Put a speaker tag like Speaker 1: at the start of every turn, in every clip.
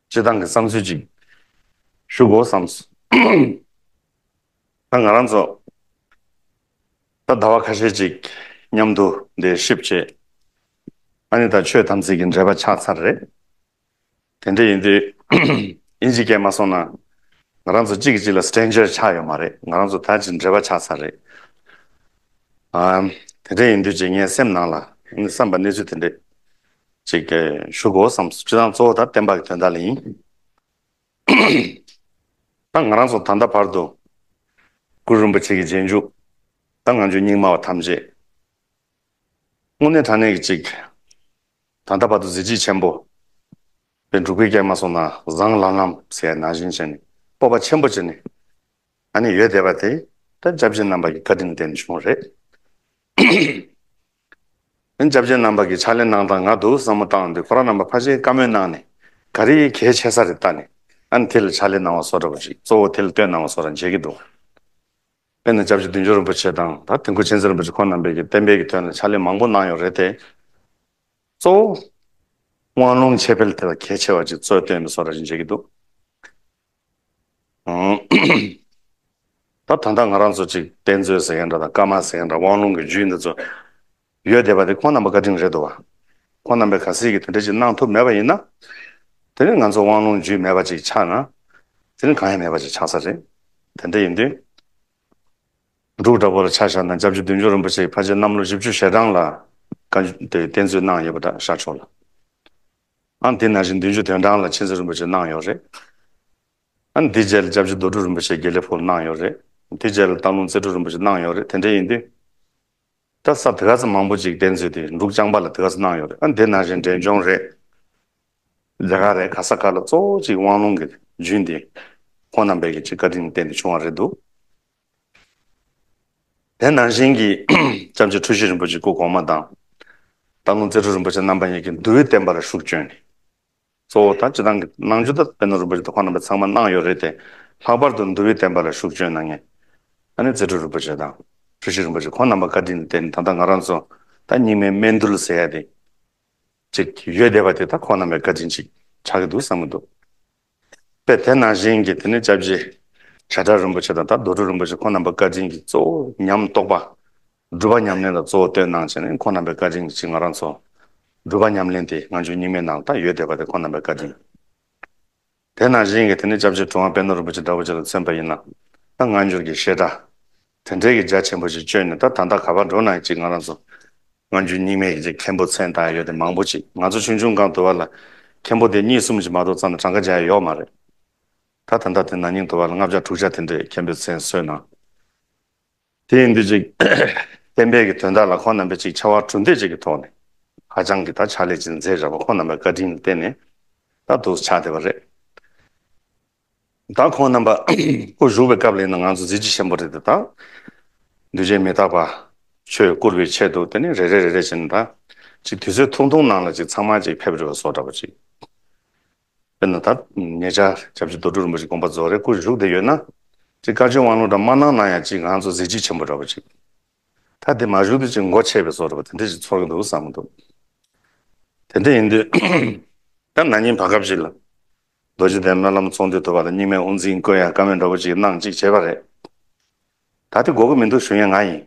Speaker 1: སྤྱི་བཏང་གི་བསམ་ཚུལ་ཅིག་ཞུ་དགོས་བསམས། ད་ང་རང་ཚོ་ད་ཟླ་བ་ཁ་ཤས་ཅིག་མཉམ་དུ་འདིར་ཞིབ་བྱེད་ཨ་ནི་ད་ཆོས་དམ་ཚིག་གི་འབྲེལ་པ་ཆགས་ཚར་རེད། དེ་འདྲ་ཡིན་དུས་ཨིན་ཇི་སྐད་མ་སོང་ན་ང་རང་ཚོ་གཅིག་གི་གཅིག་ལ stranger ཆགས་ཡོད་མ་རེད་ང་རང་ཚོ་ད་ཅིག་འབྲེལ་པ་ཆགས་ཚར་རེད། དེ་འདྲ་ཡིན་དུས་ཅིག་ངའི་སེམས་ནང་ལ་བསམས་པ་གནས་ཚུལ་དེ་འདྲས་ཅིག། ཞུ་གོ་བསམ་སྤྱི་དང་གཙོ་བོ་དང་བསྟན་པ་གི་དོན་དག་ལ་ཡིན། ད་ང་རང་སོགས་ད་ལྟ་བར་དུ། གུ་རུ་རིན་པོ་ཆེ་གི་རྗེས་འཇུག་དང་ང་ཆོས་རྙིང་མ་བ་ཐམས་ཅད། དངོས་གནས་དྲང་གནས་ཀྱི་ཅིག། ད་ལྟ་བར་དུ་གཟི་བརྗིད་ཆེན་པོ། པའི་འབྲུག་པའི་སྐྱེལ་མ་སོགས་ན་བཟང་ལམ་ལམ་ཟས་ན་བཞིན་བྱས་ནས་སྤོབས་པ་ཆེན་པོ་བྱས་ནས། ད་ནི་ཡོད་བསྡད་པ་དེ། ད་བཅའ་བཞི་རྣམ་པ་གི་བཀའ་དྲིན་རྟེན་བྱུང་བ་རེད། སྐྱབས་ཆེན་རྣམ་པ་གྱི་ཕྱག་ལེན་གནང་སྟངས་ང་དུ་བསམ་བློ་བཏང་དུས་ཁོ་རང་རྣམ་པ་ཕར་ཕྱིན་བཀའ་མོལ་གནང་ནས་ག་རེ་གལ་ཆེ་ས་རེ་བལྟ་ནས་ཨ་ནི་དེ་ལ་ཕྱག་ལེན་གནང་བ་བཟོ་འདྲ་བ་ཞིག་གཙོ་བོ་དེ་ལ་ལྟོས་གནང་བ་བཟོ་རང་བྱེད་ཀྱི་འདུག་དཔེར་ན་སྐྱབས་རྗེ་བདུན་ཅུ་རིན་པོ་ཆེ་དང་ད་ཐེངས་ཁུ་ཆེན་ཚེ་རིན་པོ་ཆེ་ཁོང་རྣམ་པས་ཀྱི་བསྟན་འཕེལ་གྱི་དོན་ལ་ཕྱག་ལེན་མང་པོ་གནང་ཡོད་རེད་དེ། གཙོ་བོ་དབང་ལུང་འཆད་སྤེལ་དེ་ལ་གལ་ཆེ་བ་ཅིག་གཙོས་ལྟོས་ནས་བཟོ་རང་བྱེད་ཀྱི་འདུག། ད་ད་ལྟ་ང་རང་ཚོ་ཅིག་དཔེ་མཛོད་ཟེར་མཁན་འདྲ་དང་ཀརྨ་ཟེར་མཁན་འདྲ་དབང་ལུང་གི་རྒྱུད་འདི་ཚོ་ཡོད་བསྡད་པ་དེ་ཁོང་རྣམ་པ་བཀའ་དྲིན་རེད་འདུག་བ། ཁོང་རྣམ་པས་ག་སྲིད་ཀྱི་དེ་འདྲ་ཅིག་གནང་ཐུབ་མེད་པ་ཡིན་ན། དེ་རིང་ང་ཚོ་དབང་ལུང་རྒྱུད་མེད་པ་ཅིག་ཆགས་ན། དེ་རིང་གང་ཡང་མེད་པ་ཅིག་ཆགས་ས་རེད། དེ་འདྲ་ཡིན་དུས། འབྲུག་འདྲ་བོ་ལ་ཆ་བཞག་ན་རྒྱ་བརྒྱུད་བདུན་བརྒྱུད་རིན་པོ་ཆེའི་ཕ་རྗེས་གནམ་ལོ་བཞི་བཅུ་ཞེ་གྲངས་ལ། བཀའ་འདི་དཔེ་མཛོད་གནང་ཡོད་པ་འདྲ་ཤར་ཆོག་ལ། ཨ་འདི་ན་བཞིན་བདུན་ཅུ་དོན་གྲངས་ལ་མཁྱེན་བརྩེ་རིན་པོ་ཆེ་གནང་ཡོད་རེད། ཨ་འདི་རྗེས་ལ ྋསྐྱབས་རྗེ་རྡོ་གྲུབ་རིན་པོ་ཆེ་དགེ་ལེགས་ཕུལ་གནང་ཡོད་རེད། དེ་རྗེས་ལ་སྟག་ལུང་རྩེ་དྲུག་རིན་པོ་ཆེ་གནང་ཡོད་རེད་དེ་འདྲ་ཡིན་དུས། ད་ས་དྷི་ག་ཚ་མང་པོ་ཅིག་གདན་ཚུད་དེ་འབྲུག་བྱང་པ་ལ་དྷི་ག་ཚ་གནང་ཡོད་རེད་ཨ་འདི་ན་བཞིན་འབྲས་ལྗོངས་རེད། རྒྱ་གར་རེད་ག་ས་ག་ལ་གཙོ་བོ་ཅིག་དབང་ལུང་གི་རྒྱུད་འདི། ཁོང་རྣམ་པས་ཀྱི་ཅིག་བཀའ་དྲིན་བརྟེན་ཏེ་བྱུང་བ་རེད་འདུག། དེ་ནང་བཞིན་གྱི་བྱམས་ཆོས་ཁྲུ་བཞི་རིན་པོ་ཆེ་སྐུ་གོང་མ་དང། སྟག་ལུང་རྩེ་ཁྲུ་རིན་པོ་ཆེ་རྣམ་པ་གཉིས་ཀྱིས་འདུལ་བའི་བསྟན་པ་ལ་ཤུགས་བསྐྱོན་ནས། གཙོ་བོ་དང་སྤྱི་དང་གི་གནང་རྒྱུ་དང་དཔེ་ནོར་རིན་པོ་ཆེ་དང་ཁོང་རྣམ་པས་ཚང་མ་གནང་ཡོད་རེད་དེ། ལྷག་པར་དུ་འདུལ་བའི་བསྟན་པ་ལ་ཤུགས་བསྐྱོན་གནང་མཁན་ད་ནི་རྩེ་ཁྲུ་རིན་པོ་ཆེ་དང་ཁྲུ་བཞི་རིན་པོ་ཆེ་ཁོང་རྣམ་པ་བཀའ་དྲིན་དེ་ད་ལྟ་ང་རང་ཚོ་ད་སྙིགས་མའི་སྨད་འདུལ་ཟེར་ཡ་དེ། ཅིག་ཡོད་བསྡད་པ་དེ་དག་ཁོང་རྣམ་པའི་བཀའ་དྲིན་ཅིག་ཆགས་ཀྱི་འདུག་བསམ་གྱི་འདུག། པས་དེ་ནང་བཞིན་གྱི་དེ་ནས་བཅའ་བཞི། བྱེ་བྲག་རིན་པོ་ཆེ་དང་དང་རྡོ་གྲུབ་རིན་པོ་ཆེ་ཁོང་རྣམ་པ་བཀའ་དྲིན་གྱི་གཙོ་བོ་ཉམས་རྟོགས་པ། སྒྲུབ་པ་ཉམས་ལེན་ལ་གཙོ་བོ་སྟོན་གནང་བྱས་ནས་ཁོང་རྣམ་པའི་བཀའ་དྲིན་གྱི་ཕྱིར་ང་རང་ཚོ། སྒྲུབ་པ་ཉམས་ལེན་དེ་ང་ཆོས་རྙིང་མའི་ནང་དང་ཡོད་བསྡད་པ་དེ་ཁོང་རྣམ་པའི་བཀའ་དྲིན། དེ་ནང་བཞིན་གྱི་དེ་ནས་བཅའ་བཞི་གྲུབ་དབང་དཔལ་ནོར་རིན་པོ་ཆེ་དགྲ་བོ་ཆེ་ལ་མཚོན་པ་ཡིན་ན། ང་འགྱུར་གྱི་བཤད་གྲྭ། དེ་འདྲའི་གི་རྒྱ་ཆེན་པོ་ཞིག་བཅོས་ནས་ད་ད་ད་ག་པར་འགྲོ་ན་ཅིག་ང་རང་ཚོ་སྔ་འགྱུར་རྙིང་མའི་གི་མཁན་པོ་ཚན་དང་ཡོད་དེ་མང་པོ་ཅིག་ང་ཚོ་ཆུང་ཆུང་གང་དུ་བ་ལ་མཁན་པོ་དེ་གཉིས་གསུམ་ཅིག་མ་གཏོགས་ཙམ་ན་གྲངས་ཀ་བརྒྱ་ཡོག་མ་རེད་ད་ད་ད་དེ་ན་ཉིང་དུ་བ་ལ་ལྔ་བརྒྱ་དྲུག་བརྒྱ་དེ་འདྲའི་མཁན་པོའི་ཚན་བསོད་ནམས་དེ་ཡིན་དུས་ཅིག་བསྟན་པའི་གི་དོན་དག་ལ་ཁོང་རྣམ་པས་ཅིག་ཕྱར་བ་གྲུ་འདེགས་ཅིག་གི་ཐོག་ནས་ཧ་ཅང་གི་ད་ཕྱག་ལས་ཅིག་མཛད་རབ་བ་ཁོང་རྣམ་པའི་བཀའ་དྲིན་ལ་བརྟེན་ནས་ད་དུ་ཕྱག་བདེ་བ་རེད། བདག་ཁོང་རྣམ་པ་སྐུ་བཞུགས་པའི་སྐབས་ལས་ན་ང་ཚོ་གཟི་བརྗིད་ཆེན་པོ་རེད་དེ་དང། འདུས་བྱས་མི་རྟག་པ་ཆོས་བཀུར་བའི་ཆེད་དུ་དེ་ནས་རེ་རེ་རེ་རེ་བྱས་ནས་ད་ཅིག་དུས་ཚོད་ཐུང་ཐུང་ནང་ལ་ཅིག་ཚང་མ་ཅིག་ཕེབས་རེ་བ་སོགས་འདྲ་པོ་ཅིག་དཔེར་ན་ད་ངེད་ཅག ྋསྐྱབས་རྗེ་རྡོ་གྲུབ་རིན་པོ་ཆེ་དགོངས་པ་རྫོགས་རའི་སྐུ་བཞུགས་དེ་ཡོད་ན་ཅིག་བཀའ་ཆོས་དབང་ལུང་འདྲ་མ་གནང་ན་ཡང་ཅིག་ང་ཚོ་གཟི་བརྗིད་ཆེན་པོ་འདྲ་པོ་ཅིག་ད་དེ་མ་བཞུགས་དུས་ཅིག་མགོ་ཆད་པའི་སོགས་འདྲ་པོ་དེ་འདྲ་ཅིག་ཚོར་གི་འདུག་བསམ་གི་འདུག་དེ་འདྲ་ཡིན་དུས་ད་ན་ཉིན་བར་སྐབས་ཤིག་ལ་རྡོ་རྗེ་གདན་སྨོན་ལམ་ཚོང་འདུས་དུ་བ་ལ་སྙིགས་མའི་དབུ་འཛིན་དཀོན་ཡང་བཀའ་མོལ་འདྲ་བོ་ཅིག་གནང་ཅིག་བྱས་པ་རེད། ད་དེ་འགོག་གི་མི་འདུག་ཞུ་མཁན་ང་ཡིན།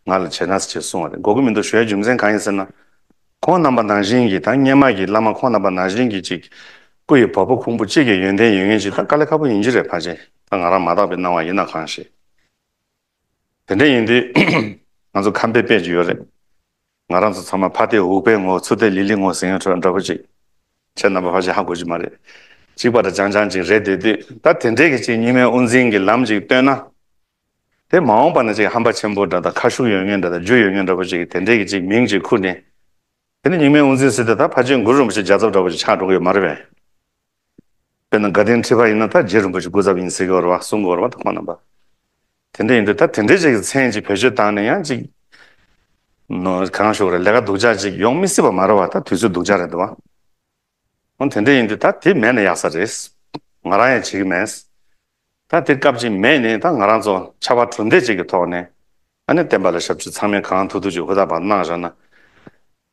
Speaker 1: ང་ལ་བྱས་ན་ཟེར་ཅེས་གསུངས་བ་རེད་འགོག་གི་མི་འདུག་ཞུ་ཡ་རྒྱུ་མཚན་གང་ཡིན་ཟེར་ན། ཁོང་རྣམ་པ་ནང་བཞིན་གྱི་དང་སྙན་མ་གྱི་བླ་མ་ཁོང་རྣམ་པ་ནང་བཞིན་གྱི་ཅིག་སྐུ་ཡི་བ་སྤུ་ཁུང་བུ་གཅིག་གི་ཡོན་ཏན་ཡོད་ངེས་ཅིག་ད་དཀའ་ལས་ཁ་པོ་ཡིན་གྱི་རེད་ཕ་ཆེན་ད་ང་རང་མ་དག་པའི་སྣང་བ་ཡིན་ན་གང་ཞེས། དེ་འདྲ་ཡིན་དུས་ང་ཚོ་ཁམས་པའི་དཔེ་ཅིག་ཡོད་རེད། ང་རང་ཚོ་ཚང་མ་ཕ་སྟེ་འུག་པའི་ངོ་ཚུ་སྟེ་ལི་ལི་ངོ་ཟིང་ཡང་ཁྲོད་འདྲ་པོ་ཅིག། ཁྱེད་རྣམ་པ་ཧ་ཅང་ཧ་གོ་རྒྱུ་མ་རེད། གཅིག་པ་འདྲ་ཅང་ཅང་ཅིག་རེད་འདོད་དུས་ད་དེ་འདྲས་ཀྱི་ཅིག་སྙིགས་མའི་དབུ་འཛིན་གྱི་ལམ་ཅིག་བཏོད་ན། དེ་མ་འོངས་པ་ན་ཅིག་ཧམ་པ་ཆེན་པོ་འདྲ་དང་ཁ་ཤུགས་ཡོད་ངེས་འདྲ་དང་རྒྱུ་ཡོད་ངེས་འདྲ་པོ་ཅིག་གིས་དེ་འདྲས་ཀྱི་ཅིག་མིང་ཅིག་ཁུར་ནས། དེ་ནི་སྙིགས་མའི་དབུ་འཛིན་ཟེར་ཏེ་ད་ཕ་ཆེན་མགུར་རིན་པོ་ཆེ་རྒྱ་ཚབ་འདྲ་པོ་ཅིག་ཆགས་འགྲོ་གི་ཡོད་མ་རེད་པས། དཔེར་ན་དགའ་ལྡན་ཁྲི་པ་ཡིན་ན་ད་རྗེ་རིན་པོ་ཆེ་སྐུ་ཚབ་ཡིན་ཟེར་གྱི་འོར་བ་གསུང་གི་འོར་བ་ད་ཁོ་ན་པ། དེ་འདྲ་ཡིན་དུས་ད་དེ་འདྲའི་ཅིག་གི་མཚན་ཅིག་བེད་སྤྱོད་བཏང་ནས་ཡང་ཅིག་ནོ་གང་ཞུགས་རེད་ལས་ཀ་སྡུག་ཅག་ཅིག་ཡོང་མི་སྲིད་པ་མ་རེད་བ་ད་དུས་ཚོད་སྡུག་ཅག་རེད་འདུག་བ། འོ་དེ་འདྲ་ཡིན་དུས་ད་དེ་མེད་ན་ཡག་ས་རེད། ང་རང་ཡང་བྱེད་ཀྱི་མེད། ད་དེ་སྐབས་ཅིག་མེད་ནས་ད་ང་རང་ཚོ་ཕྱར་བ་གྲུ་འདེགས་ཅིག་གི་ཐོག་ནས་ཨ་ནེ་བསྟན་པ་ལ་ཞབས་ཕྱི་ཚང་མས་གང་ཐུག་ཐུག་ཅིག་ཧུར་ཐག་པ་གནང་བཞག་ན།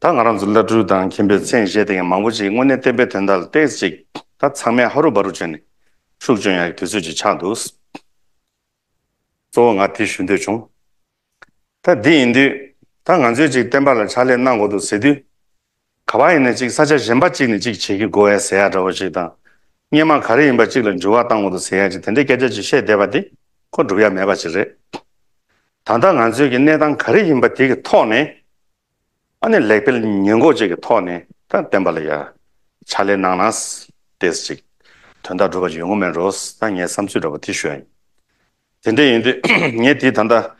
Speaker 1: ད་ང་རང་ཚོ་བླ་སྤྲུལ་དང་མཁན་པོའི་མཚན་བཞེས་དེ་ཡང་མང་པོ་ཅིག་དངོས་གནས་བསྟན་པའི་དོན་དག་ལ་བལྟས་ཅིག་ད་ཚང་མས་ཧ་རུ་བ་རུ་བྱས་ནས་ཤུགས་སྤྱོད་ཡག་གི་དུས་ཚོད་ཅིག་ཆགས་འདུག། གཙོ་བོ་ང་དེ་ཞུ་འདོད་བྱུང། ད་འདི་ཡིན་དུས་ད་ང་ཚོས་ཅིག་བསྟན་པ་ལ་ཕྱག་ལས་གནང་དགོས་འདུག་ཟེར་དུས། ག་པ་ཡིན་ནས་ཅིག་ས་ཆ་གཞན་པ་ཅིག་ནས་ཅིག་བྱེད་ཀྱི་གོ་བའི་ཟེ་ཡག་འདྲ་བོ་ཞིག་དང། སྙེ་མ་ག་རེ་ཡིན་པ་ཅིག་ལ་འཇུ་བ་བཏང་བོ་དང་ཟེ་ཡག་ཅིག་དེ་འདྲའི་སྐད་ཆ་ཅིག་བཤད་བསྡད་པ་དེ་ཁོ་འགྲུབ་ཡ་མེད་པ་ཅིག་རེད། ད་ལྟ་ང་ཚོས་ཀྱི་གནས་སྟངས་ག་རེ་ཡིན་པ་དེ་གི་ཐོག་ནས། ཨ་ནི་ལེགས་སྤེལ་ཉེས་འགོག་བཅས་ཀྱི་ཐོག་ནས་ད་བསྟན་པ་ལ་ཡ། ཕྱག་ལས་གནང་ན། དེས་ཅིག། དོན་དག་འགྲུབ་པ་ཅིག་ཡོང་གི་མེད་རོ། ད་ངས་བསམ་ཚུལ་འདྲ་བོ་དེ་ཞུ་ཡ་ཡིན། དེ་འདྲས་ཡིན་དུས་ངས་དེ་ད་ལྟ།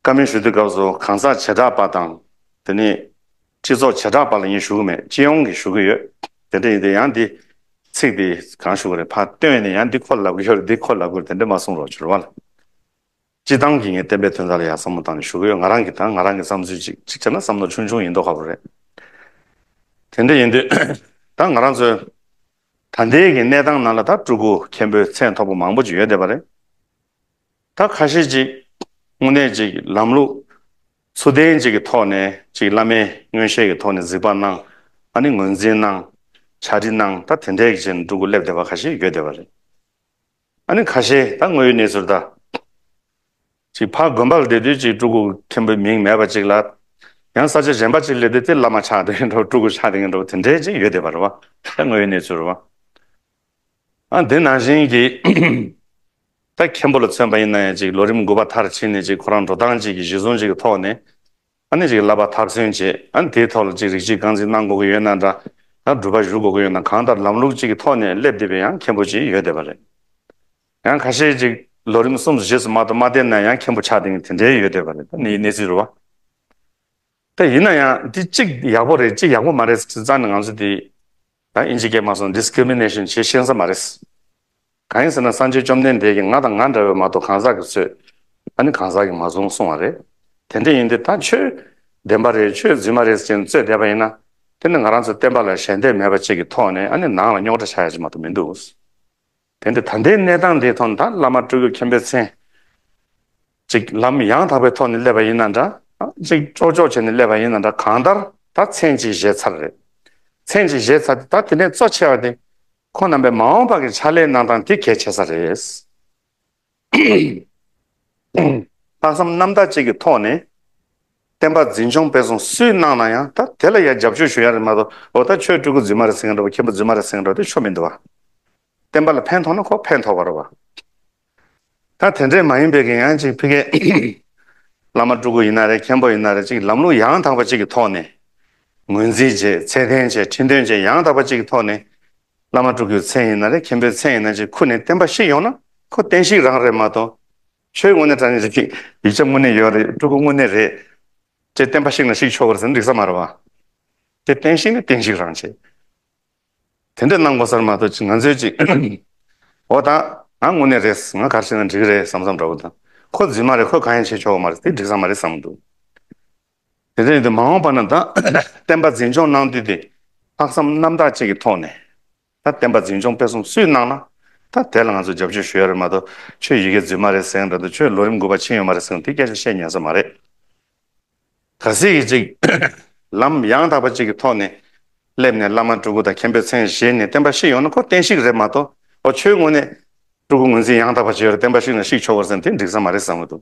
Speaker 1: བཀའ་མོལ་ཞུ་དུས་སྐབས་སུ་གང་ཟག་བྱེ་བྲག་པ་དང། དེ་ནི། སྤྱི་ཚོགས་བྱེ་བྲག་པ་ལ་ཡིན་ཞུ་གི་མེད་སྤྱི་ཡོངས་ཀྱི་ཞུ་གི་ཡོད། དེ་འདྲ་ཡིན་དུས་ཡང་འདི། ཚིག་འདི་གང་ཞུ་གི་རེད་ཕ་ལྟོས་ནས་ཡང་འདི་ཁོ་ལ་ལབ་གི་ཡོད་འདི་ཁོ་ལ་ལབ་གི་རེད་དེ་འདྲ་མ་གསུངས་རོགས་ཕྱིར་བ་ལ། སྤྱི་བཏང་གིས་ངའི་བསྟན་པའི་དོན་དག་ལ་ཡང་བསམ་བློ་བཏང་ནས་ཞུ་གི་ཡོད་ང་རང་གིས་དང་ང་རང་གི་བསམ་ཚུལ་ཅིག་གཅིག་བྱས་ན་བསམ་བློ་ཆུང་ཆུང་ཡིན་མདོག་ཁ་པོ་རེད། དེ་འདྲ་ཡིན་དུས། ད་ང་རང་ཚོའི། ད་ལྟའི་གི་གནས་སྟངས་ནང་ལ་ད་སྤྲུལ་སྐུ་མཁན་པོའི་མཚན་ཐོགས་པ་མང་པོ་ཅིག་ཡོད་བསྡད་པ་རེད། ད་ཁ་ཤས་ཀྱིས་དངོས་གནས་ཀྱི་ལམ་ལུགས་ཚུལ་ལྡན་ཅིག་གི་ཐོག་ནས་ཀྱི་བླ་མའི་མངོན་ཤེས་ཀྱི་ཐོག་ནས་གཟིགས་པ་གནང་ཨ་ནི་ངོས་འཛིན་གནང་བྱ་འབྲི་གནང་ད་དེ་འདྲའི་ཀྱི་འགྲོ་ཀུ་སླེབས་བསྡད་པ་ཁ་ཤས་ཡོད་བསྡད་པ་རེད་ཨ་ནི་ཁ་ཤས་ད་དངོས་ཡོད་གནས་ཚུལ་ད་ཅིག་ཕ་དགོན་པར་བསྡད་དུས་ཀྱི་སྤྲུལ་སྐུ་མཁན་པོའི་མིང་མེད་པ་ཅིག་ལ་ཡང་ས་ཆ་གཞན་པ་ཅིག་སླེབས་བསྡད་དེ་བླ་མ་ཆགས་འདི་ངན་འགྲོ་སྤྲུལ་སྐུ་ཆགས་འདི་ངན་འགྲོ་དེ་འདྲའི་ཅིག་ཡོད་བསྡད་པ་རེད་བ་ད་དངོས་ཡོད་གནས་ཚུལ་རེད་བ། དེ་ནང་བཞིན་གྱི། ད་མཁན་པོ་ལ་མཚོན་པ་ཡིན་ན་ཡང་ཅིག་ལོ་རིམ་དགུ་པ་མཐར་ཕྱིན་ནས་ཅིག་ཁོ་རང་འགྲོ་སྟངས་ཅིག་གི་གཞི་བཟུང་ཅིག་གི་ཐོག་ནས། ཨ་ནི་ཅིག་བསླབ་པ་ཐག་ཚུན་ཆད་ཨ་ནི་དེའི་ཐོག་ལ་ཅིག་རིགས་གཅིག་རྐང་འཛིན་གནང་དགོས་ཀྱི་ཡོད་ན་འདྲ། ད་སྒྲུབ་པ་བཞུགས་དགོས་ཀྱི་ཡོད་ན་གང་ལྟར་ལམ་ལུགས་ཅིག་གི་ཐོག་ནས་སླེབས་བསྡད་པའི་ཡང་མཁན་པོ་ཅིག་ཡོད་བསྡད་པ་རེད། ཡང་ཁ་ཤས་ཅིག་ལོ་རིམ་གསུམ་བཞི་སུ་མ་གཏོགས་མ་བསྡད་ན་ཡང་མཁན་པོ་ཆགས་དེང་དེ་འདྲའི་ཡོད་བསྡད་པ་རེད་ད་ནི་གནས་ཚུལ་རུ་བ། ད་ཡིན་ན་ཡང་འདི་ཅིག་ཡག་པོ་རེད་ཅིག་ཡག་པོ་མ་རེད་ཟེར་ཙང་ནི་ང་ཚོ་འདི། ད་ཨིན་ཇི་སྐད་མ་གསུངས Discrimination བྱེད་ཤེས་ས་མ་རེད། གང་ཡིན་ཟེར་ན་སངས་རྒྱས་བཅོམ་ལྡན་འདས་ཀྱིས་ང་དང་ང་འདྲ་བའི་མ་གཏོགས་གང་ཟག་གི་ཚོད་ཨ་ནི་གང་ཟག་གིས་མ་བཟུང་གསུངས་བ་རེད། དེ་འདྲ་ཡིན་དུས་ད་ཆོས་བདེན་པ་རེད་ཆོས་རྫུན་མ་རེད་ཟེར་གྱིན་རྩོད་བསྡད་པ་ཡིན་ན། དེ་ནི་ང་རང་ཚོའི་བསྟན་པ་ལ་ཞལ་འདེབས་མེད་པ་བཅས་ཀྱི་ཐོག་ནས་ཨ་ནི་ནང་ལ་རྙོག་དྲ་ཆགས་ཡ་ཅི་མ་གཏོགས་མི་འདུག། དེ་འདྲའི་ད་ལྟའི་གནས་སྟངས་འདིའི་ཐོག་ནས་ད་བླ་མ་སྤྲུལ་སྐུ་མཁྱེན་པའི་མཚན་ཅིག་ལམ་ཡང་དག་པའི་ཐོག་ནས་སླེབས་པ་ཡིན་ན་འདྲ་ཅིག་ཅོག་ཅོག་བྱས་ནས་སླེབས་པ་ཡིན་ན་འདྲ་གང་ལྟར་ད་མཚན་ཅིག་བཞེས་ཚར་རེད། མཚན་ཅིག་བཞེས་ཚར་ཏེ་ད་དེ་ནས་གཙོ་ཆེ་བ་དེ་ཁོང་རྣམ་པའི་མ་འོངས་པ་གི་ཕྱག་ལས་གནང་སྟངས་དེ་གལ་ཆེ་ས་རེད། ལྷག་བསམ་རྣམ་དག་ཅིག་གི་ཐོག་ནས། བསྟན་པ་འཛིན་སྐྱོང་སྤེལ་གསུང་སུས་གནང་ན་ཡང་ད་དེ་ལ་ཡང་རྒྱབ་སྐྱོར་ཞུ་ཡ་རེད་མ་གཏོགས་འོ་ད་ཁྱོད་སྤྲུལ་སྐུ་རྫུན་མ་རེད་ཟེར་གྱི་འགྲོ་བ་མཁན་པོ་རྫུན་མ་རེད་ཟེར་གྱི་འགྲོ་བ་དེ་ཆོ་མི་འདུག་བ། བསྟན་པ་ལ་ཕན་ཐོགས་ན་ཁོག་ཕན་ཐོགས་པ་རེད་བ། ད་དེ་འདྲས་མ་ཡིན་པའི་གི་ཡང་ཅིག་ཕི་ཀའི། བླ་མ་སྤྲུལ་སྐུ་ཡིན་ན་རེད་མཁན་པོ་ཡིན་ན་རེད་ཅིག་ལམ་ལུགས་ཡང་དག་པ་ཅིག་གི་ཐོག་ནས། ངོས་འཛིན་བྱེད་ཚད་ལྡན་བྱེད་ཁྲིད་འདོན་བྱེད་ཡང་དག་པ་ཅིག་གི་ཐོག་ནས། བླ་མ་དྲུག་གི་མཚན་ཡིན་ན་རེད་མཁན་པོའི་མཚན་ཡིན་ན་ཅིག་ཁུར་ནས་བསྟན་པ་ཞིག་ཡོང་ན་ཁོ་བསྟན་བཤིག་རང་རེད་མ་གཏོགས། ཆོས་དངོས་གནས་དྲ་ནས་རིག་གི་ཡིག་ཆ་དངོས་གནས་ཡོད་རེད་སྤྲུལ་སྐུ་དངོས་གནས་རེད། ཅེས་བསྟན་པ་བཤིག་ན་བཤིག་ཆོག་གི་རེད་ཟེར་ན་འགྲིག་ས་མ་རེད་བ། དེ་བསྟན་བཤིག་ནི་བསྟན་བཤིག་རང་བྱེད། དེ་འདྲ་གནང་དགོས་སར་མ་གཏོགས་ཅིག་ང་ཚོས་ཅིག། འོ་ད་ང་དངོས་གནས་རེད་ང་གར་བྱས་ན་འགྲིག་གི་རེད་བསམ་བསམ་འདྲ་བོ་དང། ཁོ་རྫུན་མ་རེད་ཁོས་གང་ཡང་བྱེད་ཆོག་གི་མ་རེད་དེ་འགྲིག་ས་མ་རེད་བསམ་འདུག། དེ་ལྟར་ཡིན་དུ་མ་འོངས་པ་ན་ད་བསྟན་པ་འཛིན་སྐྱོང་གནང་དུས་དེ་ལྷག་བསམ་རྣམ་དག་ཅིག་གི་ཐོག་ནས་ད་བསྟན་པ་འཛིན་སྐྱོང་སྤེལ་གསུམ་སུས་གནང་ན་ད་དེ་ལ་ང་ཚོས་རྒྱབ་སྐྱོར་ཞུ་ཡ་རེད་མ་གཏོགས་ཁྱོད་ཡི་གེ་འཛུལ་མ་རེད་ཟེང་དང་དུ་ཁྱོད་ལོ་རིམ་དགུ་པ་ཕྱིན་ཡོད་མ་རེད་ཟེང་དུ་དེ་སྐད་ཆ་བཤད་ཉན་ས་མ་རེད། ག་ཟིག་གིས་ཅིག་ལམ་ཡང་དག་པ་ཅིག་གི་ཐོག་ནས་སླེབས་ནས་བླ་མ་སྤྲུལ་སྐུ་དང་མཁན་པོའི་མཚན་བཞེས་ནས་བསྟན་པ་བཤིག་ཡོང་ན་ཁོ་བསྟན་བཤིག་རེད་མ་གཏོགས་ཨོ་ཁྱོད་དངོས་གནས་སྤྲུལ་སྐུ་ངོས་འཛིན་ཡང་དག་པ་བྱས་ཡོད་རེད་བསྟན་པ་བཤིག་ན་བཤིག་ཆོག་གོ་ཟེང་དེ་འགྲིག་ས་མ་རེད་བསམ་གི་འདུག་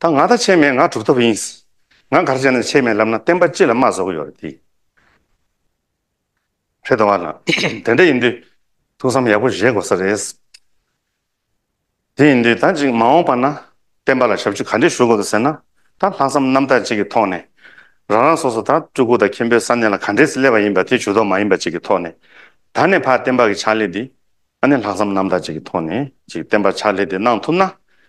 Speaker 1: ད་ང་ད་ཆས་མེད་ང་གྲུབ་ཐོབ་ཡིན། ང་གར་བྱས་ན་ཆས་མེད་ལབ་ན་བསྟན་པ་ཅི་ལ་མ་བཟོ་གི་ཡོད་རེད་དེ། ཕེ་ཏོ་བ་ལ། དེ་འདྲ་ཡིན་དུས། ཐུགས་བསམ་ཡག་པོ་བཞེས་དགོས་ས་རེད། དེ་ཡིན་དུས་ད་ཅིག་མ་འོངས་པ་ན་བསྟན་པ་ལ་ཞབས་ཞུ་ག་འདྲས་ཞུ་དགོས་འདུག་ཟེར་ན། ད་ལྷག་བསམ་རྣམ་དག་ཅིག་གི་ཐོག་ནས། རང་རང་སོ་སོ་ད་སྤྲུལ་སྐུ་དང་མཁན་པོའི་ས་གནས་ལ་ག་འདྲས་སླེབས་པ་ཡིན་པ་དེ་ཇུས་ཏོག་མ་ཡིན་པ་ཅིག་གི་ཐོག་ནས། ད་ནས་བར་བསྟན་པ་གི་ཕྱག་ལས་འདི། ཨ་ནེ་ལྷག་བསམ་རྣམ་དག་ཅིག་གི་ཐོག་ནས་ཅིག་བསྟན་པ་ཕྱག་ལས་དེ་གནང་ཐུབ་ན་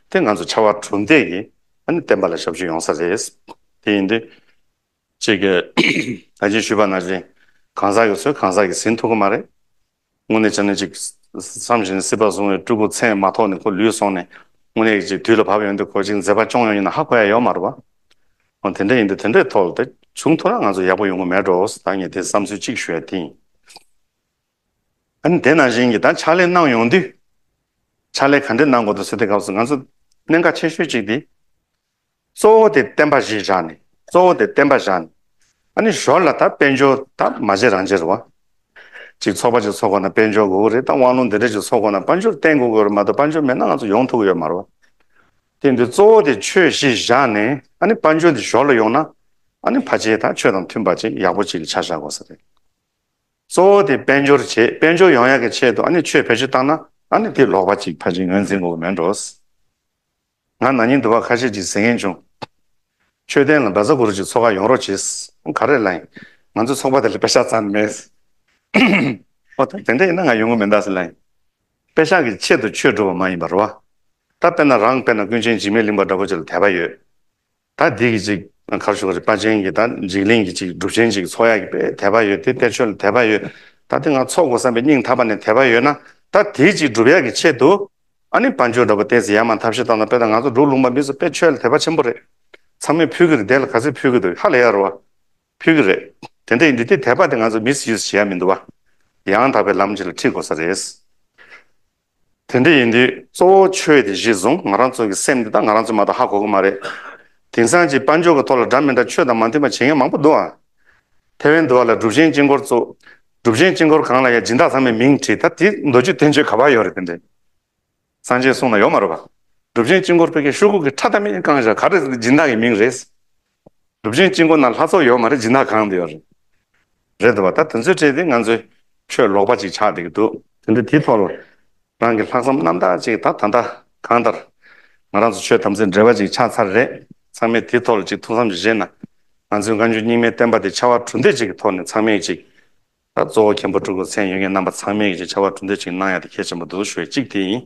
Speaker 1: དེ་ང་ཚོ་ཕྱར་བ་གྲུ་འདེགས་ཀྱིས་ཨ་ནེ་བསྟན་པ་ལ་ཞབས་ཞུ་ཡོང་ས་རེད། དེ་ཡིན་དུས། ཅིག་གི་ད་ཅིག་ཞུས་པ་ན་ཅིག་གང་ཟག་གི་ཚོས་གང་ཟག་གི་ཟིན་ཐུབ་ཀྱི་མ་རེད། དངོས་གནས་བྱས་ན་ཅིག་བསམ་བཞིན་སྲིད་པ་བཟུང་བའི་སྤྲུལ་སྐུ་ཚད་མ་ཐོག་ནས་ཁོ་ལུས་སོང་ནས་དངོས་གནས་ཅིག་དུས་ལ་བབ་ཡོང་དུས་ཁོ་ཅིག་མཛད་པ་སྐྱོང་ཡོང་ཡིན་ན་ཧ་གོ་ཡ་ཡོད་མ་རེད་བ། འོན་དེ་འདྲ་ཡིན་དུས་དེ་འདྲའི་ཐོག་ལ་ད་བྱུང་ཐུབ་ན་ང་ཚོ་ཡག་པོ་ཡོང་གི་མེད་འགྲོ་ཨོ་ད་ངས་དེ་བསམ་ཚུལ་ཅིག་ཞུ་ཡ་དེ་ཡིན། ཨཱ་དེ་ན་བཞིན་གྱི་ད་ཕྱག་ལས་གནང་ཡོང་དུས། ཕྱག་ལས་ག་འདྲས་གནང་དགོས་འདུག་ཟེར་དུས་སྐབས་སུ་ང་ཚོ་གནད་འགག་ཆེ་ཤོས་གཅིག་དེ། གཙོ་བོ་དེ་བསྟན་པ་གཞི་བཞག་ནས་གཙོ་བོ་དེ་བསྟན་པ་བཞག་ནས། ཨཱ་ནི་ཞོར་ལ་ད་དཔལ་འབྱོར་ད་མ་བྱེད་རང་བྱེད་རུ་བ། ཅིག་ཚོགས་པ་ཅིག་ཚོགས་དགོས་ན་དཔལ་འབྱོར་དགོས་ཀྱི་རེད་ད་དབང་ལུང་འདི་འདྲ་ཅིག་ཚོགས་དགོས་ན་དཔལ་འབྱོར་བསྟེན་དགོས་ཀྱི་རེད་མ་གཏོགས་དཔལ་འབྱོར་མེད་ན་ང་ཚོ་ཡོང་ཐུབ་ཀྱི་ཡོད་མ་རུ་བ། དེ་འདི་གཙོ་བོ་དེ་ཆོས་གཞི་བཞག་ནས་ཨཱ་ནི་དཔལ་འབྱོར་འདི་ཞོར་ལ་ཡོང་ན་ཨཱ་ནི་ཕ་ཆེ་ད་ཆོས་དང་མཐུན་པ་ཅིག་ཡག་པོ་ཅིག་གི་ཆ་བཞག་དགོས་ས་རེད། གཙོ་བོ་དེ་དཔལ་འབྱོར་བྱེད་དཔལ་འབྱོར་ཡོང་ཡག་གི་ཆེད་དུ་ཨ་ནི་ཆོས་བེད་སྤྱོད་བཏང་ན་ཨ་ནི་དེ་ལོག་པ་ཅིག་ཕ་ཅིག་ངོས་འཛིན་དགོས་མེད་འགྲོ། ང་ན་ནིང་དུ་བ་ཁ་ཤས་ཅིག་ཟེར་མཁན་བྱུང། མཆོད་རྟེན་ལ་འབར་རྩ་དགུ་རུ་ཅིག་ཚོགས་ཁག་ཡོང་རོགས་བྱེད། ག་རེ་ལ་ཡིན། ང་ཚོའི་ཚོགས་པ་དེ་ལ་པེ་ཤག་ཙམ་མེད། ཨོ་ད་དེ་འདྲ་ཡིན་ན་ང་ཡོང་གི་མེད་ད་ཟེར་ལ་ཡིན། པེ་ཤག་གི་ཆེད་དུ་ཆོས་སྒྲུབ་པ་མ་ཡིན་པར་བ། ད་དཔེར་ན་རང་དཔེར་ན་ཀུན་མཁྱེན་འཇིགས་མེད་གླིང་པ་འདྲ་བོ་ཅིག་ལ་དད་པ་ཡོད། ད་འདི་གི་ཅིག་གར་བཞུགས་ཀྱི་པ་ཅན་གྱི་ད་འཇིགས་གླིང་གི་ཅིག་སྒྲུབ་ཆེན་ཅིག་ཚོགས་ཡ་གི་པའི་དད་པ་ཡོད་དེ་གཏེར་ཆོས་ལ་དད་པ་ཡོད་ད་དེ་ང་ཚོགས་དགོས་བསམ་པའི་སྙིང་ཐག་པ་ནས་དད་པ་ཡོད་ན་ད་དེའི་ཅིག་སྒྲུབ་ཡ་གི་ཆེད་དུ་ཨ་ནི་བ་འཇུ་འདྲ་པོ་ཏེས་ཡ་མ་འཐབ་ཤི་ད་ན་དཔེ་ད་ང་ཚོ་འབྲུག་ལུང་པ་མི་ཚོ་དཔེ་ཆོས་ལ་དད་པ་ཆེན་པོ་རེད་ཚང་མས་ཕུལ་གི་རེད་དེ་ལ་ག་ཚོད་ཕུལ་གི་འདུག་ཧ་ལས་ཡ་རོ་བ་ཕུལ་གི་རེད་དེ་འདྲ་ཡིན་དུས་དེ་དད་པ་དེ་ང་ཚོ་མི་ཚེ་ཡོད་ས་བྱེད་ཡ་མི་འདུག་བ་ཡང་དག་པའི་ལམ་ཅིག་ལ་ཁྲིད་དགོས་ས་རེད། དེ་འདྲ་ཡིན་དུས་གཙོ་བོ་ཆོས་དེ་གཞི་བཟུང་ང་རང་ཚོ་གི་སེམས་འདི་དག་ང་རང་ཚོས་མ་གཏོགས་ཧ་གོ་གི་མ་རེད། དེང་སང་གི་དཔལ་འབྱོར་གི་ཐོག་ལ་འདྲ་མི་འདྲ་ཆོས་དང་མ་མཐུན་པ་བྱེད་མཁན་མང་པོ་འདུག་ཨང། ཐེ་ཝན་དུ་བ་ལ་སྒྲུབ་ཆེན་དཀྱིལ་འཁོར་གཙོ། སྒྲུབ་ཆེན་དཀྱིལ་འཁོར་གང་ལ་ཡང་སྦྱིན་བདག་ཚང་མས་མིང་བྲིས་ད་དེའི་མདོ་རྒྱུད་བསྟན་བཅོས་ག་པར་ཡོད་རེད་དེ་འདྲས། སངས་རྒྱས་གསུང་ན་ཡོད་མ་རེད་པ། སྒྲུབ་ཆེན་དཀྱིལ་འཁོར་ཕལ་སྐད་ཤོག་གུ་གི་ཁྲ་ཐ་མི་ཡིན་རྐང་བཞག་ག་རེ་སྒྲིན་བདག་གི་མིང་རེད། གྲུབ་ཆེན་དཀྱིལ་འཁོར་ན་ལྷ་ཚོགས་ཡོད་མ་རེད་སྦྱིན་བདག་གང་དུ་ཡོད་རེད། རེད་འདུག་བ་ད་དེ་ཚོའི་གྲས་དེ་ང་ཚོའི་ཆོས་ལོག་པ་ཅིག་ཆགས་བསྡད་ཀྱི་འདུག། དེ་འདྲ་དེའི་ཐོག་ལ་རང་གི་ལྷག་བསམ་རྣམ་དག་ཅིག་ད་ད་ལྟ་གང་ལྟར་ང་རང་ཚོ་ཆོས་དམ་ཚིག་འབྲེལ་བ་ཅིག་ཆགས་ཚར་རེད་ཚང་མས་དེའི་ཐོག་ལ་ཅིག་ཐུགས་བསམ་ཅིག་བཞེས་ན་ང་ཚོའི་བཀའ་འགྱུར་རྙིང་མའི་བསྟན་པ་དེ་ཕྱར་བ་གྲུ་འདེགས་ཅིག་གི་ཐོག་ནས་ཚང་མས་ཅིག་ད་གཙོ་བོ་མཁན་པོ་སྤྲུལ་སྐུ་མཚན་ཡོད་མཁན་རྣམ་པ་ཚང་མས་ཀྱིས་ཅིག་ཕྱར་བ་གྲུ་འདེགས་ཅིག་གནང་ཡག་དེ་གལ་ཆེན་པོ་འདུག་ཞུ་བའི་གཅིག་དེ་ཡིན།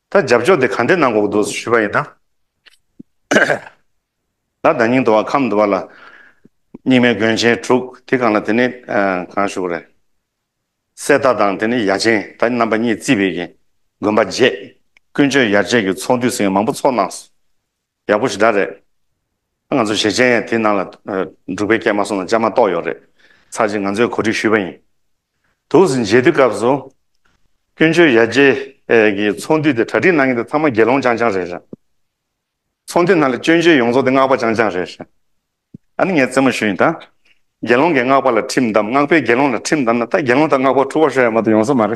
Speaker 1: ད་རྒྱབ་ཕྱོགས་དེ་གང་འདྲའི་ནང་འགོག་འདུག་ཟེར་ཞུས་པ་ཡིན་ན། ད་བདག་སྙིང་འདུ་བ་ཁམས་འདུ་བ་ལ། སྙིགས་མའི་དགོན་ཆེན་དྲུག་དེ་གང་ལ་དེ་ནི་གང་བཞུགས་རེད། གསེར་རྟ་དང་དེ་ནི་ཡ་ཆེན་ད་རྣམ་པ་གཉིས་རྩིས་པའི་གིས་དགོན་པ་བརྗེས། ཀུན་སྤྱོད་ཡར་བཅད་ཀྱི་ཚོགས་འདུས་སེང་གེ་མང་པོ་ཚོགས་གནང་སོང། ཡག་པོ་ཞེ་དྲག་རེད། ང་ཚོ་ཞེ་ཆེན་ཡང་དེ་ནང་ལ་འབྲུག་པའི་སྐད་མ་གསུང་ན་ཅང་མ་གཏོགས་ཡོད་རེད། ཚར་གཅིག་ང་ཚོས་གོ་སྒྲིག་ཞུས་པ་ཡིན། དུག་གཟི་མཇལ་དུས་སྐབས་སུ། ཀུན་སྤྱོད་ཡར་རྒྱས་ཀྱི་ཚོགས་འདུས་དེ་གྲ་སྒྲིག་གནང་མཁན་དེ་ཚང་མ་དགེ་སློང་རྐྱང་རྐྱང་རེད་རེད། ཚོགས་འདུས་ནང་ལ་སྐྱོན་བརྗོད་ཡོང་ཚོགས་དེ་སྔགས་པ་རྐྱང་རྐྱང་རེད་རེད། ཨ་ནི་ངས་རྩེད་མོ་ཞུས་ཡིན་ད། དགེ་སློང་གིས་སྔགས་པ་ལ་ཁྲིམས་བསྡམས་སྔགས་པས་དགེ་སློང་ལ་ཁྲིམས་བསྡམས་ན་ད་དགེ་སློང་དང་སྔགས་པ་འཁྲུག་བ་ཤོར་ཡ་མ་ཏོག་ཡོང་ས་མ་རེད།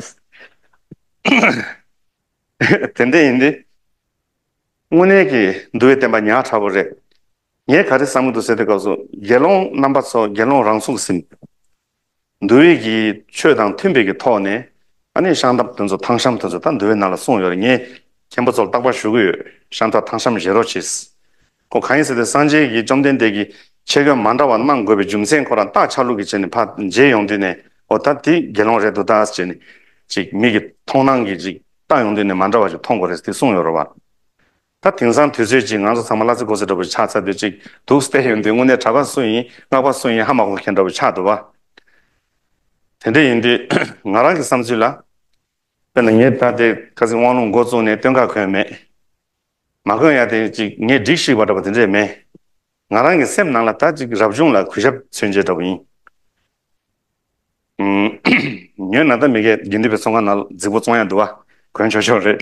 Speaker 1: དེ་འདྲས་ཡིན་དུས། དངོས་གནས་ཀྱི་འདུལ་བའི་བསྟན་པ་ཉག་ཕྲ་བོ་རེད། ངས་ག་རེ་བསམ་གྱི་འདུག་ཟེར་དུས་སྐབས་སུ་དགེ་སློང་རྣམ་པ་ཚོ་དགེ་སློང་རང་ཚུགས་ཟིན། འདུལ་བའི་གྱི་ཆོས་དང་མཐུན་པའི་གྱི་ཐོག་ནས་ཨ་ནི་ཤང་ཐབ་དོན་ཚོ་ཐང་ཤམ་དོན་ཚོ་ད་འདུལ་བའི་ནང་ལ་གསུངས་ཡོད་རེད་ངས་མཁན་པོ་ཚོར་བརྟག་པ་ཞུ་གི་ཡོད་ཤང་ཐབ་ཐང་ཤམ་བཞེས་རོགས་བྱས། ཁོ་གང་ཡིན་ཟེར་དུས་སངས་རྒྱས་ཀྱི་བཅོམ་ལྡན་འདས་ཀྱིས་ཁྱད་གོས་མ་འདྲ་བ་གནང་དགོས་པའི་རྒྱུ་མཚན་ཁོ་རང་བརྟག་ཆགས་ལུགས་ཀྱི་བྱས་ནས་ཕ་མཇལ་ཡོང་དུས་ནས་ཨོ་ད་དེ་དགེ་སློང་རེད་འདུག་ད་ཅེས་ནས་ཅིག་མིག་གི་མཐོང་སྣང་གིས་ཅིག་ཏང་ཡོངས་དེ་ནི་མ་འདྲ་བ་ཞིག་མཐོང་དགོས་རེད་དེ་གསུངས་ཡོད་རེད་བ། ད་དེང་སང་དུས་ཚོད་ཀྱིས་ང་ཚོ་ཚང་མ་གླ་རྩི་གོ་རྩི་འདྲ་བོ་ཞིག་ཆགས་ཚར་དུས་གཅིག་དུག་སེལ་ཡོད་དུས་དངོས་གནས་གྲྭ་པ་སུ་ཡིན་སྔགས་པ་སུ་ཡིན་ཧ་མ་གོ་མཁན་འདྲ་བོ་ཆགས་འདུག་བ། དེ་འདྲ་ཡིན་དུས་ང་རང་གི་བསམ་ཚུལ་ལ། དཔེར་ན་ངས་ད་ལྟའི་ཁ་ཟིག་དབང་ལུང་འགོ་བཙུགས་ནས་སྟོན་ཁ་གོན་མེད། མ་གོན་ཡ་དེ་གཅིག་ངས་སྒྲིག་ཤིག་བ་འདྲ་བ་དེ་འདྲས་མེད། ང་རང་གི་སེམས་ནང་ལ་ད་ཅིག་རབ་བྱུང་ལ་གུས་ཞབས་མཚོན་བྱེད་འདྲ་བོ་ཡིན། ཉོན་ན་ད་མི་གའི་དགེ་འདུན་པའི་ཚོགས་ཁང་ན་རྫིག་པོ་བཙོང་ཡ་འདུག་བ་གོན་ཆོག་ཆོག་རེད།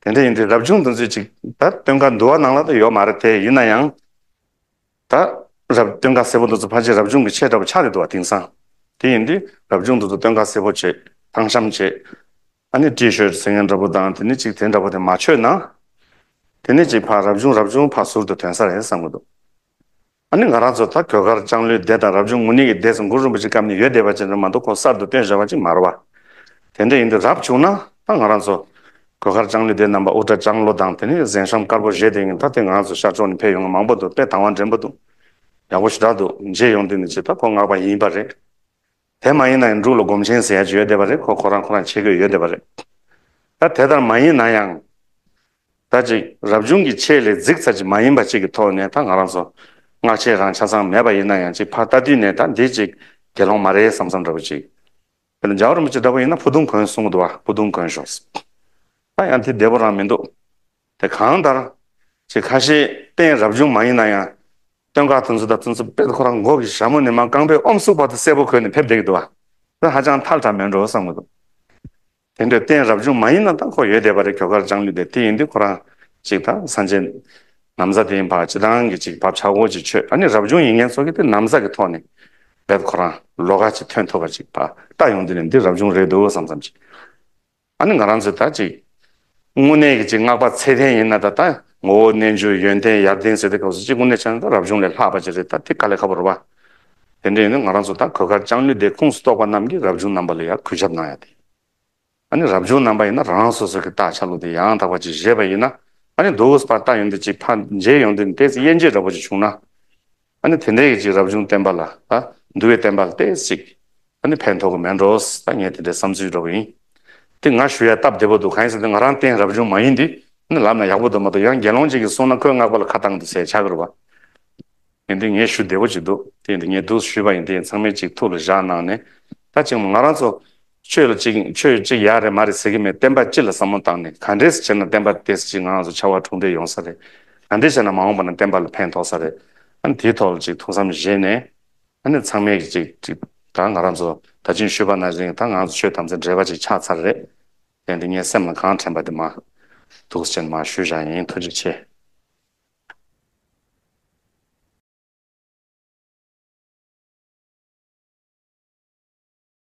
Speaker 1: དེ་འདྲ་ཡིན་དུས་རབ་བྱུང་འདུ་འཛི་ཅིག་ད་སྟོན་ཁ་འདུག་བ་ནང་ལ་ད་ཡོད་མ་རེད་དེ་ཡིན་ན་ཡང། ད་རབ་སྟོན་ཁ་སེར་པོ་འདུ་ཚོ་ཕ་ཆེ་རབ་བྱུང་གི་ཆེ་འདྲ་བོ་ཆགས་ཡོད་འདུག་བ་དེང་སང། དེ་ཡིན་དུས་རབ་བྱུང་འདུ་ཚོ་སྟོན་ཁ་སེར་པོ་བྱེད་ཐང་ཤམ་བྱེད། ཨ་ནི་ཀྲི་ཤོད་ཟེར་མཁན་འདྲ་པོ་དང་དེ་ནི་ཅིག་དེ་འདྲ་པོ་དེ་མ་ཆོད་ན། དེ་ནི་ཅིག་ཕ་རབ་བྱུང་རབ་བྱུང་ཕ་ཟུར་དུ་དོན་ས་རེད་བསམ་གྱི་འདུག་ཨ་ནི་ང་རང་ཚོ་ད་གོས་དཀར་ལྕང་ལོའི་སྡེ་དང་རབ་བྱུང་ངུ་ནི་གི་སྡེ་སུ་མགུར་རིན་པོ་ཆེ་སྐབས་ནས་ཡོད་བསྡད་པ་ཅན་རེད་མ་འདུག་ཁོང་གསར་དུ་བཏོན་བཞག་པ་ཅིག་མ་རེད་བ། དེ་འདྲ་ཡིན་དུས་རབ་བྱུང་ན་ད་ང་རང་ཚོ་གོས་དཀར་ལྕང་ལོའི་སྡེ་རྣམས་པ་དབུ་སྐྲ་ལྕང་ལོ་དང་དེ་ནི་གཟན་ཤམ་དཀར་པོ་བཞེས་བསྡད་ཡིན་ད་དེ་ང་རང་ཚོ་ཤར་ཕྱོགས་ནས་ཕེབས་ཡོང་མཁན་མང་པོ་འདུག་དཔེ་དང་བ་འདྲེན་པོ་འདུག་ཡག་པོ་ཞུ་དྲག་འདུག་མཇལ་ཡོང་དུས་ནི་ཅིག་ད་ཁོ་ངག་པ་ཡིན་པ་རེད། དེ་མ་ཡིན་ན་ཡང་འབྲུག་ལ་སྒོམ་ཆེན་ཟེར་ཡ་བརྗོད་བསྡད་པ་རེད་ཁོ་ཁོ་རང་ཁོ་རང་ཆེ་དགོས་ཡོད་བསྡད་པ་རེད། ད་དེ་ལྟར་མ་ཡིན་ན་ཡང། ད་ཅིག་རབ་བྱུང་གི་ཆེད་ལས་རྫིག་ཚར་ཅིག་མ་ཡིན་པ་ཅིག་གི་ཐོག་ནས་ད་ང་རང་ཚོ་སྔགས་ཆེན་རང་ཆ་ཚང་མེད་པ་ཡིན་ན་ཡང་ཅིག་ཕར་ལྟ་དུས་ནས་ད་འདི་ཅིག་དགེ་སློང་མ་རེད་བསམ་བསམ་འདྲ་བོ་ཅིག་ཡོད་ན་འཇའ་འོད་རིན་པོ་ཆེ་འདྲ་བོ་ཡིན་ན་ཕུ་དུང་གོན་གསུང་གི་འདུག་བ་ཕུ་དུང་གོན་ཞོགས། ད་ཡང་དེ་བདེ་བོ་རང་མི་འདུག། དེ་གང་ལྟར། ཆེས་ཁ་ཤས་གཏན་རབས་ཅུང་མ་ཡིན་ན་ཡང། སྟོན་ཁ་ཐུན་ཚོད་ལྟ་ཐུན་ཚོད་དཔེར་ཁོ་རང་མགོ་གི་ཞྭ་མོ་ནི་མ་རྐང་པའི་ཨོམ་སུག་བར་དུ་གསལ་པོ་གོན་ནས་ཕེབས་བསྡད་ཀྱི་འདུག་ཨ། ཁོས་ཧ་ཅང་ཐལ་དྲགས་མོད་འགྲོ་བསམ་གྱི་འདུག། དེ་འདྲའི་གཏན་རབས་ཅུང་མ་ཡིན་ན་ད་ཁོ་ཡོད་བསྡད་པ་རེད་གྱོ་གར་སྦྱངས་ནུས་བསྡད་དེ་ཡིན་དུས་ཁོ་རང་ཅིག་ད་ས་འཇལ། ནམ་ཟ་དེའི་བར་ཅི་ཐང་གི་ཅིག་བབ་ཆག་སྒོ་ཅིག་ཆོད་ཨ་ནི་རབ་བྱུང་ཡིན་མཁན་ཚོ་གི་དེ་ནམ་ཟ་གི་ཐོག་ནས་རྦད་ཁོ་རང་ལོ་ག་ཅིག་ཐོན་ཐུབ་པ་ཅིག་བ་ལྟ་ཡོང་དུས་ནས་འདི་རབ་བྱུང་རེད་འདུག་བསམ་བསམ་ཅིག། ཨ་ནི་ང་རང་ཚོས་ད་ཅིག་དངོས་གནས་ཀྱི་ཅིག་བསྔགས་པ་ཚད་ལྡན་ཡིན་ན་ད་ད་ངོ་བོ་རྣལ་འབྱོར་ཡོན་ཏན་ཡར་ལྡན་ཟེར་ཏེ་སྐབས་སུ་ཅིག་དངོས་གནས་ཆ་ནས་ད་རབ་བྱུང་ལས་ལྷག་པ་ཅིག་རེད་ད་དེ་ག་ལས་ཁ་བོ་རུ་བ། དེ་འདྲ་ཡིན་ན་ང་རང་ཚོ་ད་གོས་དཀར་ལྕང་ལོའི་སྡེ་ཁུངས་སུ་གཏོགས་པ་རྣམས་ཀྱིས་རབ་བྱུང་རྣམ་པ་ལ་ཡར་གུས་ཞབས་གནང་ཡ་དེ། ཨ་ནི་རབ་བྱུང་རྣམ་པ་ཡིན་ན་རང་སོ་སོ་གྱི་རྟགས་ཆ་ལུགས་དེ་ཡང་དག་པ་ཅིག་བཞེས་པ་ཡིན་ན་ཨ་ནི་རྡོ་བུས་པར་རྟགས་ཡོན་ཏན་ཅིག་ཕར་མཇལ་ཡོང་དུས་ནས་དེ་ཚེ་དབྱེ་འབྱེད་འདྲ་བོ་ཅིག་བྱུང་ན། ཨ་ནི་དེ་འདྲའི་ཡིད་ཀྱི་རབ་བྱུང་བསྟན་པ་ལ། འདུལ་བའི་བསྟན་པ་ལྟས་གཅིག། ཨ་ནི་ཕན་ཐོགས་མེད་འགྲོ། ཨ་ངས་དེ་འདྲའི་བསམ་ཚུལ་འགྲོ་གི་ཡིན། དེ་ང་ཞུ་ཡ་སྟབས་བདེ་པོ་འདུག་གང་ཡིན་ཟེར་ཏེ་ང་རང་བསྟན་རབ་བྱུང་མ་ཡིན་འདི། ཨ་ནི་ལབ་ན་ཡག་པོ་འདུག་མ་གཏོགས་ཡང་དགེ་སློང་གཅིག་གིས་གསུངས་ན་ཁོའི་བསྔགས་པ་ལ་ཁ་བཏང་འདུག་ཟེར་ཆགས་གི་རུ་བ། ཡིན་དེ་ངས་ཞུ་བདེ་པོ་གཅིག་འདུག་དེ་ཡིན་དེ་ངས་དུ་ཞུས་པ་ཡིན་དེ་ཡིན་ཚང་མའི་གཅིག་ཐུགས་ལ་བཞག་གནང་ནས། ད་ཅིག་མོ་ང་རང་ཚོ། ཆོས་ལ་ཅིག་ཆོས་གཅིག་ཡག་རེད་མ་རེད་ཟེར་གི་མེད་བསྟན་པ་སྤྱི་ལ་བསམ་བློ་བཏང་ནས་ག་འདྲེས་བྱེད་ན་བསྟན་པ་དེ་སྤྱི་ངང་སུ་ཆ་བ་འཁྲུངས་འདྲེས་ཡོང་ས་རེད་ག་འདྲེས་བྱས་ན་མ་འོངས་པ་ན་བསྟན་པ་ལ་ཕན་ཐོགས་ས་རེད་ཨ་དེའི་ཐོག་ལ་ཅིག་ཐུགས་བསམ་བཞེས་ནས་ཨ་ནི་ཚང་མས་ཀྱི་ཅིག་ད་ང་རང་ཚོ་ད་ཅིང་ཤོས་པ་ན་རིང་ད་ངང་ཚོ་ཆོས་དམ་ཚིག་འབྲེལ་བ་ཅིག་ཆགས་ཚར་རེད་དེ་འདི་ངའི་སེམས་ལ་གང་དྲན་པ་དེ་མ་ཐུགས་ཆེན་མ་ཞུ་བཞག་ཡིན་ཐུགས་རྗེ་ཆེ།